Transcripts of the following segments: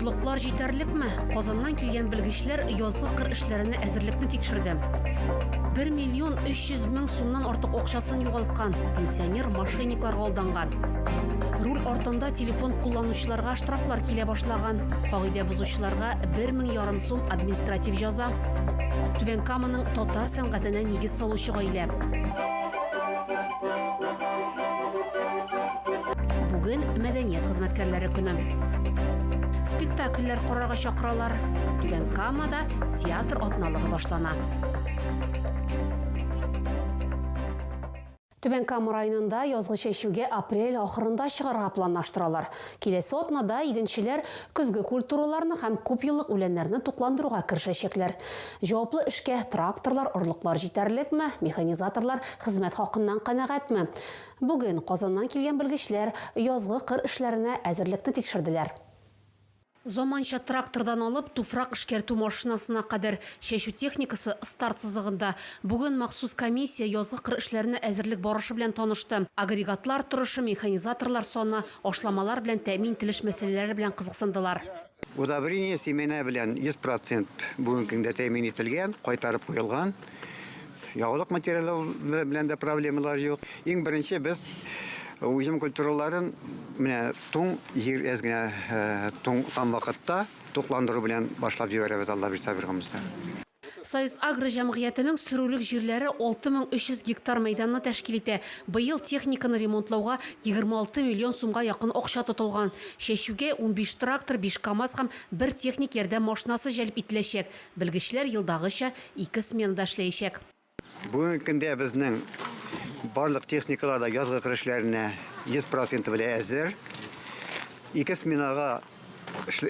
Орлыклар җитәрлекме? Казаннан килгән белгечләр язгы кыр эшләренә әзерлекне тикшерде. 1 миллион 300 мең сумнан артык акчасын югалткан пенсионер мошенниклар алданган. Руль артында телефон кулланучыларга штрафлар килә башлаган. Кагыйдә бозучыларга 1 мең ярым сум административ җаза. Түбән Каманың татар сәнгатенә нигез салучы гаилә. Бүген мәдәният хезмәткәрләре көне. Спектакльләр корырга чакыралар. Түбән Камада театр атналыгы башлана. Түбән Кама районында язгы чәчүгә апрель ахырында чыгарга планлаштыралар. Киләсе атнада игенчеләр көзге культураларны һәм күпьеллык үләннәрне тукландыруга керешәчәкләр. Җаваплы эшкә тракторлар, орлыклар җитәрлекме, механизаторлар хезмәт хакыннан канәгатьме? Бүген Казаннан килгән белгечләр язгы кыр эшләренә әзерлекне тикшерделәр. Заманча трактордан алып туфрак эшкәртү машинасына кадәр чәчү техникасы старт сызыгында. Бүген махсус комиссия язгы кыр эшләренә әзерлек барышы белән танышты. Агрегатлар торышы, механизаторлар саны, Ашламалар белән тәэмин ителеш мәсьәләләре белән кызыксындылар. Удобрение семена белән 100 процент бүгенге көндә тәэмин ителгән, кайтарып куелган. Ягулык материалы белән дә проблемалар юк. Иң беренче без уҗым культураларын менә туң җир әз генә туңган вакытта тукландыру белән башлап җибәрәбез, Аллабирса Биргомуса. Союзагро җәмгыятенең сөрүлек җирләре 6300 гектар мәйданны тәшкил итә. Быел техниканы ремонтлауга 26 миллион сумга якын акча тотылган. Чәчүгә унбиш трактор, биш КАМАЗ һәм бер техник ярдәм машинасы җәлеп ителәчәк. Белгечләр елдагыча ике сменада эшләячәк. Бүгенге көндә безнең барлык техникалар да язгы кыр эшләренә 100 проценты белән әзер. Ике сменага,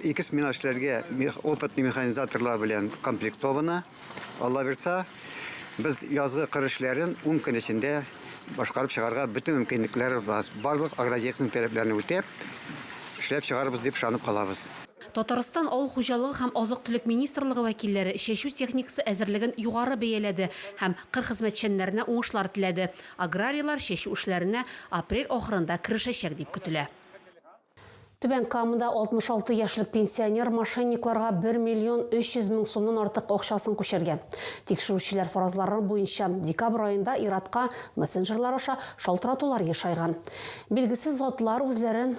ике смена эшләргә опытный механизаторлар белән комплектовано. Алла бирса, без язгы кыр эшләрен 10 көн эчендә башкарып чыгарга бөтен мөмкинлекләр бар. Барлык агротехник таләпләрне үтәп, эшләп чыгарбыз дип ышанып калабыз. Татарстан Авыл хуҗалыгы һәм азык-төлек министрлыгы вәкилләре чәчү техникасы әзерлеген югары бәяләде һәм кыр хезмәтчәннәренә уңышлар теләде. Аграрийлар чәчү эшләренә апрель ахырында керешәчәк дип көтелә. Түбән Камада 66 яшьлек пенсионер мошенникларга бер миллион 300 мең сумнан артык акчасын күчергән. Тикшерүчеләр фаразлары буенча, декабрь аенда ир-атка мессенджерлар аша шалтыратулар ешайган. Билгесез затлар үзләрен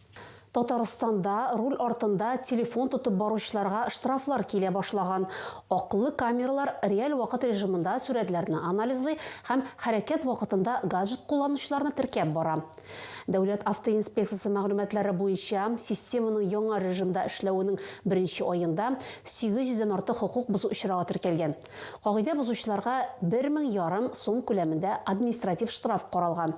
Татарстанда руль артында телефон тотып баручыларга штрафлар килә башлаган. Аклы камералар реаль вакыт режимында сурәтләрне анализлый һәм хәрәкәт вакытында гаджет кулланучыларны теркәп бара. Дәүләт автоинспекциясе мәгълүматлары буенча, системаның яңа режимда эшләвенең беренче аенда 800 дән артык хокук бозу очрагы теркәлгән. Кагыйдә бозучыларга бер мең ярым сум күләмендә административ штраф каралган.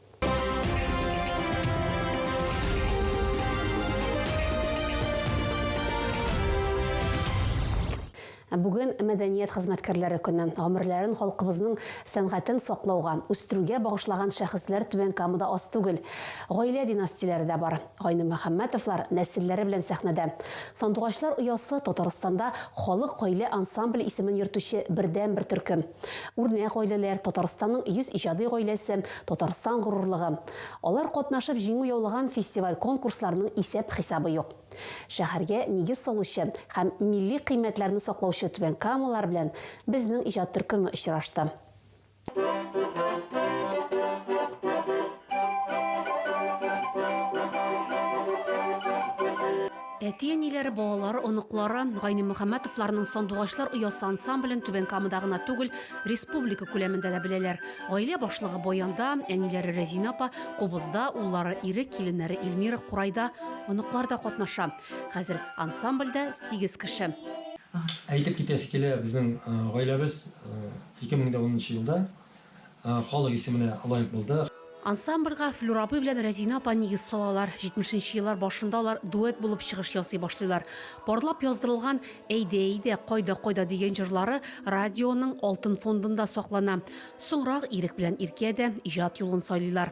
Бүген мәдәният хезмәткәрләре көне. Гомерләрен халкыбызның сәнгатен саклауга, үстерүгә багышлаган шәхесләр Түбән Камада аз түгел. Гаилә династияләре дә бар. Гайнемөхәммәтовлар нәселләре белән сәхнәдә. Сандугачлар оясы, Татарстанда халык гаилә ансамбле исемен йөртүче бердәнбер төркем. Үрнәк гаиләләр, Татарстанның 100 иҗади гаиләсе, Татарстан горурлыгы. Алар катнашып җиңү яулаган фестиваль-конкурсларның исәп-хисабы юк. Шәһәргә нигез салучы һәм милли кыйммәтләрне саклаучы түбәнкамалылар белән безнең иҗат төркеме очрашты. Әти-әниләре, балалары, оныклары Гайнемөхәммәтовларның Сандугачлар оясы ансамблен Түбән Камада гына түгел, республика күләмендә дә беләләр. Гаилә башлыгы Баянда, әниләре Рәзинә апа Кубызда, уллары Ирек, киленнәре Эльмира Курайда, оныклар да катнаша. Хәзер ансамбльдә сигез кеше. Әйтеп китәсе килә, безнең гаиләбез 2010 нчы елда халык исеменә лаек булды. Ансамбльга Флүр абый белән Рәзинә апа нигез салалар. Җитмешенче еллар башында алар дуэт булып чыгыш ясый башлыйлар. Парлап яздырылган Әйдә, әйдә, кайда, кайда дигән җырлары радионың алтын фондында саклана. Соңрак Ирек белән Иркә дә иҗат юлын сайлыйлар.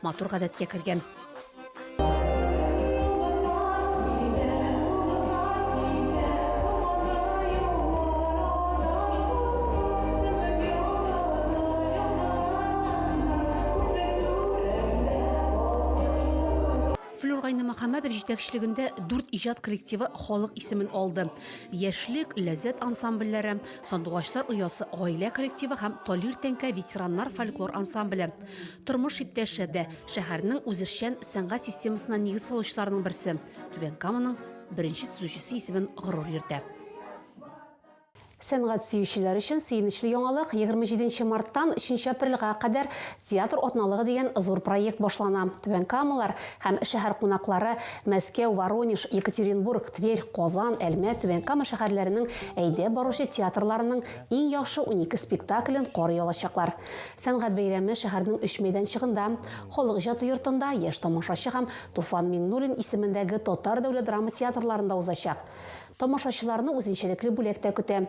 матур гадәткә кергән. Мөхәммәдов җитәкчелегендә дүрт иҗат коллективы халык исемен алды. Яшьлек, Ләззәт ансамбльләре, Сандугачлар оясы гаилә коллективы һәм Талир тәңкә ветераннар фольклор ансамбле. Тормыш иптәше дә шәһәрнең үзешчән сәнгать системасына нигез салучыларның берсе. Түбән Каманың беренче төзүчесе исемен горур йөртә. Сәнгать сөючеләр өчен сөенечле яңалык, 27 марттан 3 апрельгә кадәр Театр атналыгы дигән зур проект башлана. Түбән Камалар һәм шәһәр кунаклары Мәскәү, Воронеж, Екатеринбург, Тверь, Казан, Әлмәт, Түбән Кама шәһәрләренең әйдәп баручы театрларының Иң яхшы унике спектаклен карый алачаклар. Сәнгать бәйрәме шәһәрнең өч мәйданчыгында, Халык иҗаты йортында, Яшь тамашачы һәм Туфан Миңнуллин исемендәге татар дәүләт драма театрларында узачак. Тамашачыларны үзенчәлекле бүләк тә көтә.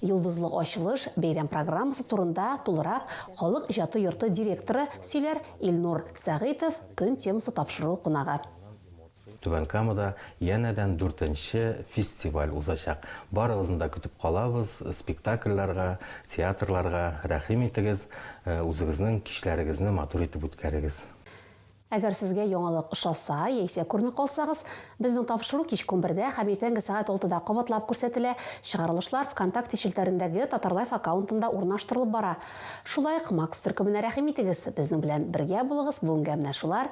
Йолдызлы ачылыш, бәйрәм программасы турында тулырак Халык иҗаты йорты директоры сөйләр, Илнур Сәгыйтов, көн темасы тапшыру кунагы. Түбән Камада янәдән дүртенче фестиваль узачак. Барыгызны да көтеп калабыз, спектакльләргә, театрларга. Рәхим итегез, үзегезнең кичләрегезне матур итеп үткәрегез. Әгәр сезгә яңалык ошаса, яисә күрми калсагыз, безнең тапшыру кичке унбердә һәм иртәнге сәгать алтыда кабатлап күрсәтелә, чыгарылышлар ВКонтакте челтәрендәге Татарлайф аккаунтында урнаштырылып бара. Шулай ук Макс төркеменә рәхим итегез, безнең белән бергә булыгыз, бүгенгә менә шулар,